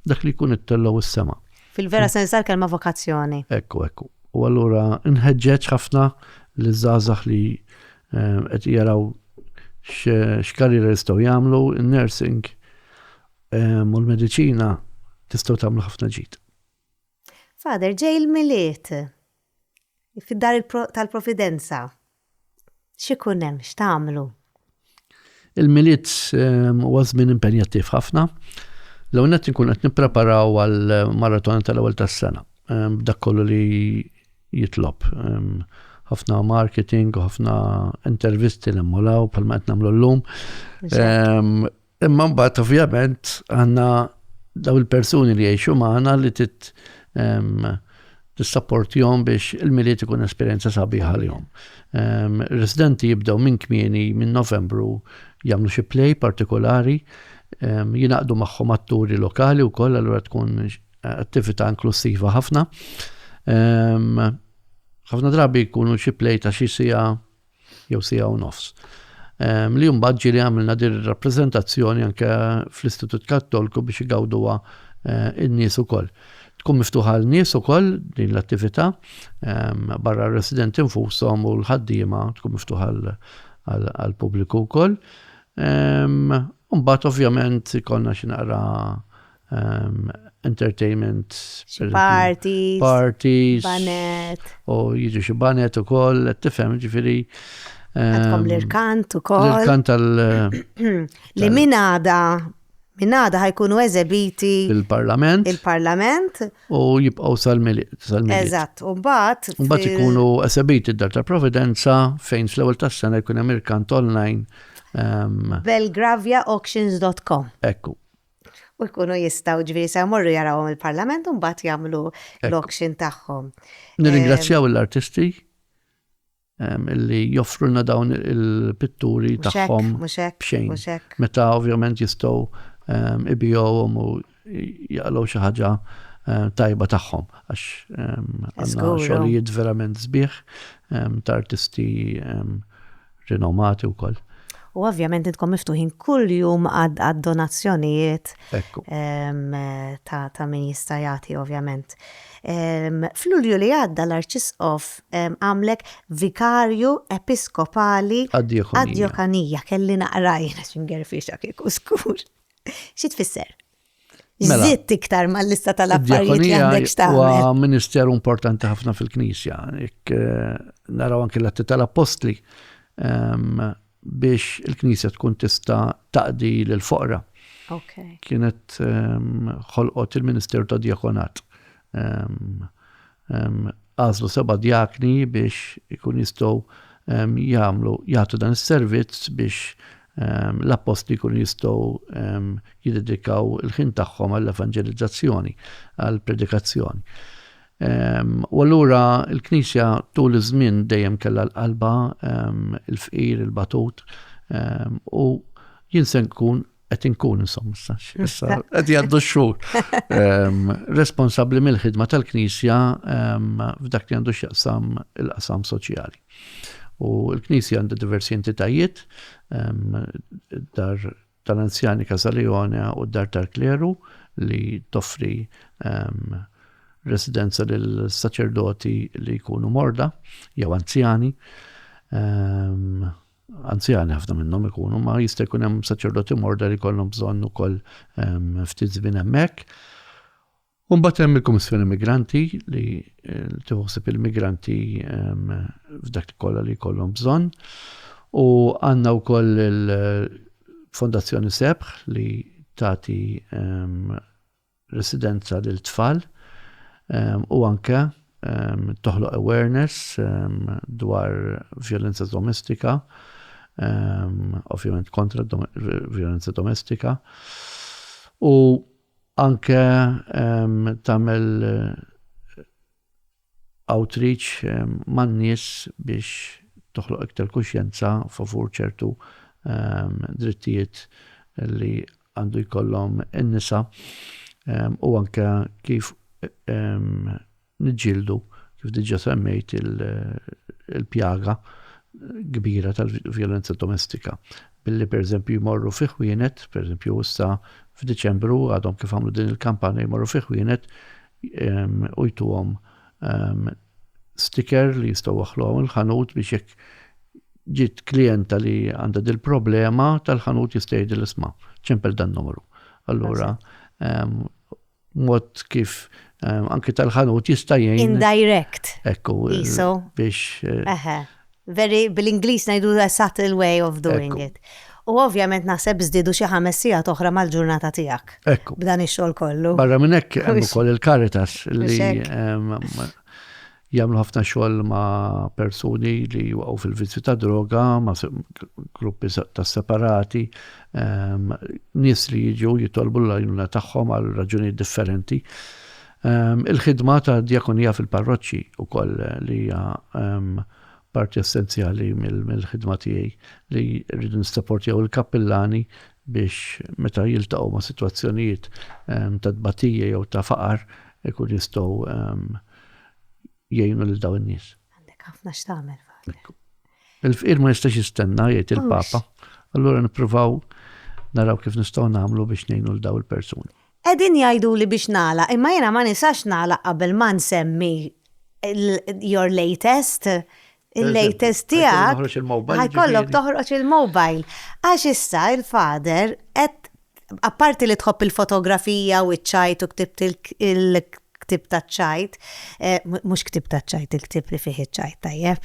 Dak li jkun ittellgħu s-sema. Fil-vera sens tal-kelma vokazzjoni. Ekku, ekku. U allura nħeġġeġ ħafna li żgħażagħ li eh, qed jaraw x'karriera jistgħu jagħmlu, in-nursing eh, u l-mediċina tistgħu tagħmlu ħafna ġid. Fader, ġej il-miliet fid-dar tal-providenza. X'ikun hemm x'tagħmlu? Il-Milied ehm, huwa żmien impenjattiv ħafna. L-ewwel nett inkun qed nippreparaw għal maratona tal-ewwel tas-sena. Ehm, dak kollu li jitlob. Ehm, ħafna marketing, ħafna intervisti li mmolaw bħalma qed nagħmlu llum. Imma mbagħad ovvjament għandna daw il-persuni li jgħixu magħna li tit tissapportihom biex il-miliet ikun esperjenza sabiħa lihom. Residenti jibdew minn kmieni minn Novembru jagħmlu xi play partikolari, jinaqdu magħhom atturi lokali wkoll allura tkun attività inklusiva ħafna. Ħafna drabi jkunu xi play ta' xi sija jew siegħa u nofs. Ehm, li mbagħad ġieli għamilna din ir-rappreżentazzjoni anke fl-Istitut Kattolku biex igawduha eh, in-nies ukoll. Tkun miftuħa l-nies ukoll din l-attività ehm, barra r-residenti nfushom u l-ħaddiema tkun miftuħa għall-pubbliku wkoll. Ehm, mbagħad ovvjament konna xi naqra um, entertainment. Parties. Parties. Banet. U jiġu xi banet u koll, tifhem ġifiri. Għadkom um, l-irkant u koll. L-irkant tal. Li min għada Innada ħajkunu eżebiti il-parlament. Il-parlament. U jibqaw sal-miliet. Eżatt, u bat. U bat ikunu eżebiti d-dar ta' Providenza fejn fl-ewel tas sena jkun hemm irkant online. Um, Belgraviaauctions.com. Ekku. u jkunu jistgħu ġifieri se jmorru jarawhom il-Parlament u mbagħad jagħmlu l-auction tagħhom. Nirringrazzjaw l-artisti illi joffrulna dawn il-pitturi tagħhom b'xejn. Meta ovvjament jistgħu ibijowhom u jaqalgħu xi ħaġa tajba tagħhom għax għandna xogħlijiet verament sbieħ ta' artisti rinomati wkoll. U ovvjament intkom miftuħin kull jum għad-donazzjonijiet ta' min jista' jagħti ovvjament. F'Lulju li għadda l-Arċisqof għamlek Vikarju Episkopali għad-Djokanija kelli naqrajna x'ingerfiex kieku skur. Xi tfisser? Mela. Zitt iktar ma lista tal-affarijiet li għandek xtaqqa. Huwa ministeru importanti ħafna fil-Knisja. Ik eh, naraw anki l-atti tal-Apostli ehm, biex il-Knisja tkun tista taqdi l-foqra. Kienet ehm, ħolqot il-Ministeru ta' Diakonat Għażlu seba' djakni biex ikun jistgħu jagħmlu jagħtu dan is-servizz biex l-appostli jkunu jistgħu jiddedikaw il-ħin tagħhom għall-evanġelizzazzjoni, għall-predikazzjoni. U allura l-Knisja tul iż-żmien dejjem kellha l-qalba, il-fqir, il-batut, u jien se nkun qed inkun insomma sax. Issa qed jgħaddu x-xhur. Ehm, responsabbli mill-ħidma tal-Knisja ehm, f'dak li għandu x'jaqsam il-qasam soċjali. U l-Knisja għandha diversi entitajiet, ehm, dar tal-anzjani Kazalijone u dar tal-kleru li toffri residenza lil saċerdoti li jkunu morda jew anzjani. anzjani ħafna minnhom ikunu, ma jista' jkun hemm saċerdoti morda li jkollhom bżonn ukoll ehm, ftit żmien hemmhekk. Mbagħad hemm il-Kummissjoni Migranti li eh, tiħosib il-migranti ehm, f'dak kollha li jkollhom bżonn. U għandna wkoll il-Fondazzjoni Sebħ li tagħti ehm, residenza lil tfal u anke toħloq awareness dwar vjolenza domestika, ovvjament kontra vjolenza domestika u anke tagħmel outreach man-nies biex toħloq iktar kuxjenza favur ċertu drittijiet li għandu jkollhom in-nisa u anke kif niġġieldu, kif diġà semmejt, il-pjaga kbira tal-vjolenza domestika billi pereżempju jmorru fi ħwienet, pereżempju issa f'Diċembru għadhom kif għamlu din il-kampanja jmorru fi ħwienet u jtuhom sticker li jistgħu waħħluha mill-ħanut biex jekk ġiet klijenta li għandha dil-problema tal-ħanut jista' jgħid l-isma. Ċempel dan numru. Allura, mod kif anke tal-ħanut jista' jgħin. Indirect. Ekku. Biex. Very, bil-Ingliż ngħidu a subtle way of doing it. U ovvjament naħseb żdiedu xi ħames sigħat oħra mal-ġurnata tiegħek. Ekku. B'dan ix-xogħol kollu. Barra minn hekk hemm ukoll il-Caritas li jagħmlu ħafna xogħol ma' persuni li waqgħu fil-vizzju ta' droga, ma' gruppi ta' separati, ehm, nies li jiġu jitolbu l-għajnuna tagħhom għal raġuni differenti. Il-ħidma ta' djakonija fil-parroċċi wkoll li hija parti essenzjali mill-ħidma tiegħi li rridu nistapportjaw il-kappillani biex meta jiltaqgħu ma' sitwazzjonijiet ta' tbatija jew ta' faqar ikun jistgħu jgħinu lil dawn in-nies. Għandek ħafna x'tagħmel faħar. Il-fqir ma jistax jistenna jgħid il-Papa. Allura nippruvaw naraw kif nistgħu nagħmlu biex ngħinu l daw il-persuni. Qegħdin jgħiduli biex nagħlaq imma jiena ma nisax nagħlaq qabel ma nsemmi your latest, il-latest tiegħek, ħajkollok toħroġ il-mobile. Għax issa il-father qed apparti li tħobb il-fotografija u ċ-ċajt u ktibt il-ktieb taċ-ċajt, mhux ktieb taċ-ċajt, il-ktieb li fih iċ-ċajt, tajjeb.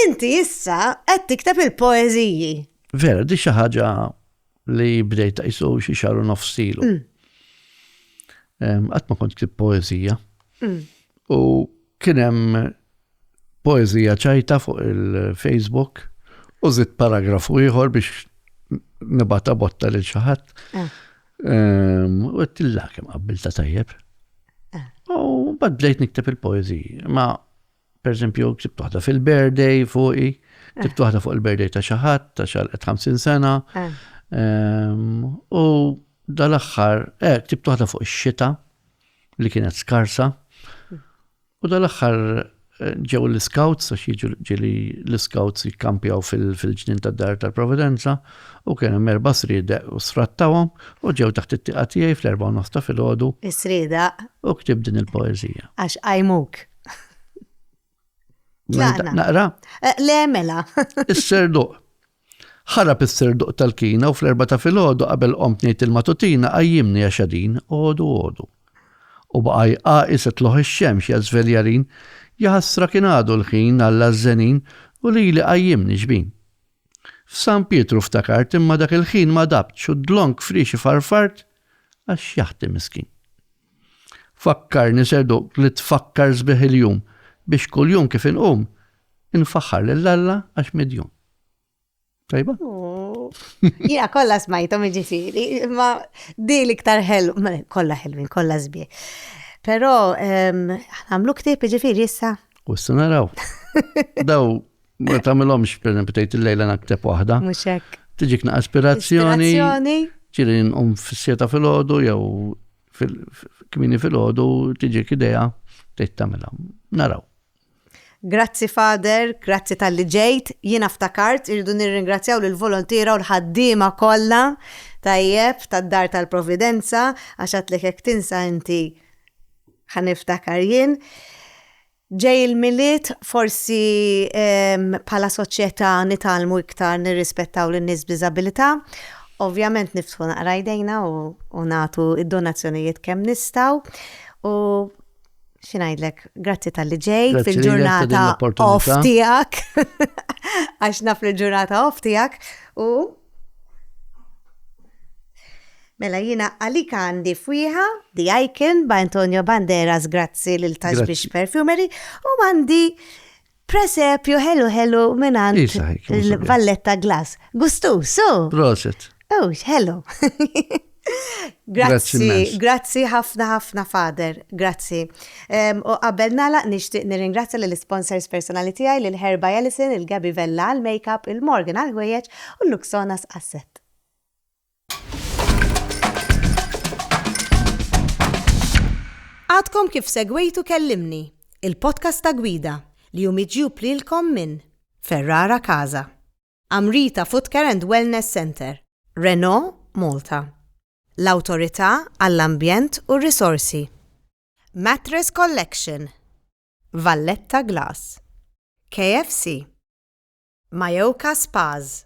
Inti issa qed tikteb il-poeżiji. Vera, di xi ħaġa li bdejt qisu xi xahar u nofs ilu. Qatt ma kont ktib poeżija. U kien hemm poeżija ċajta fuq il-Facebook u żidt paragrafu ieħor biex nibata botta lil xi ħadd. Ah. Ehm, u għettilla kem għabbilta tajjeb. Ah. U bad bdejt nikteb il-poeziji. Ma Per eżempju, ksibt waħda fil-birthday fuqi, ksibt eh. waħda fuq il-birthday ta' xi ħadd ta' xalqet 50 sena. Eh. Ehm, u dal-aħħar, eh, ksibt waħda fuq ix-xita li kienet skarsa. Hmm. U dal-aħħar eh, ġew l-scouts, għax jiġu ġili l-scouts jikkampjaw fil-ġnin tad dar tal-Providenza, u kien hemm erba' srieda u sfrattawhom u ġew taħt it-tieqa tiegħi fl-erba' nofs ta' filgħodu. Is-srieda. U ktib din il-poeżija. Għax għajmuk. Naqra? Eh, le, mela. Is-serduq. Ħarab is-serduq tal-kina u fl-erba ta' filgħodu qabel qomt ngħid il-matutina qajjimni għax għadin għodu għodu. U baqaj qaqi se tloħ ix-xemx ja żveljarin, jaħasra kien għadu l-ħin għalla żenin u li li qajjimni xbin. F'San Pietru ftakart imma dak il-ħin ma dabtx u d-dlonk frixi farfart għax jaħti miskin. Fakkarni sedu li tfakkar sbieħ il-jum biex kuljum kif inqum infaħħar lil Alla għax midjun. Tajba? Jina kolla smajtom ġifiri, ma di l-iktar ħelu, kolla ħelwin, kolla zbie. Pero, ehm, għamlu ktib ġifiri jissa. U s-sanaraw. Daw Ma tagħmilhomx pereżempju tgħid il-lejla nakteb waħda. Mhux hekk. Tiġik naqas ispirazzjoni. Ġieli nqum fis-sieta filgħodu jew kmini filgħodu tiġik idea tgħid tagħmilha. Naraw. Grazzi Fader, grazzi tal-li ġejt, jiena ftakart irridu nirringrazzjaw lill volontira u l-ħaddiema kollha tajjeb tad-dar tal-Providenza għax għatlek hekk tinsa inti ħaniftakar jien. Ġej il-Milied forsi bħala soċjetà nitgħallmu iktar nirrispettaw lin-nies b'diżabilità. Ovvjament niftħu naqra jdejna u nagħtu d-donazzjonijiet kemm nistgħu u xi ngħidlek, grazzi talli ġejt fil-ġurnata off tiegħek għax naf li l-ġurnata off tiegħek u Mela jiena għalik għandi fwieħa The Icon by Antonio Banderas grazzi lil Tashbish Perfumery u għandi presepju ħelu ħelu minn għand Valletta Glass. Gustu, so! Proset. Oh, hello. Grazzi, grazzi ħafna ħafna fader, grazzi. U qabel nalaq nixtieq nirringrazzja lill sponsors personali tiegħi lil Herba Ellison, il-Gabi Vella għal makeup, il-Morgan għal ħwejjeġ u l-Luxonas Asset. Għadkom kif segwejtu kellimni, il-podcast ta' gwida li jumidġu plilkom minn Ferrara Kaza. Amrita Footcare and Wellness Centre, Renault Malta, l-Awtorità għall-Ambjent u r-Risorsi, Mattress Collection, Valletta Glass, KFC, Mayoka Spas,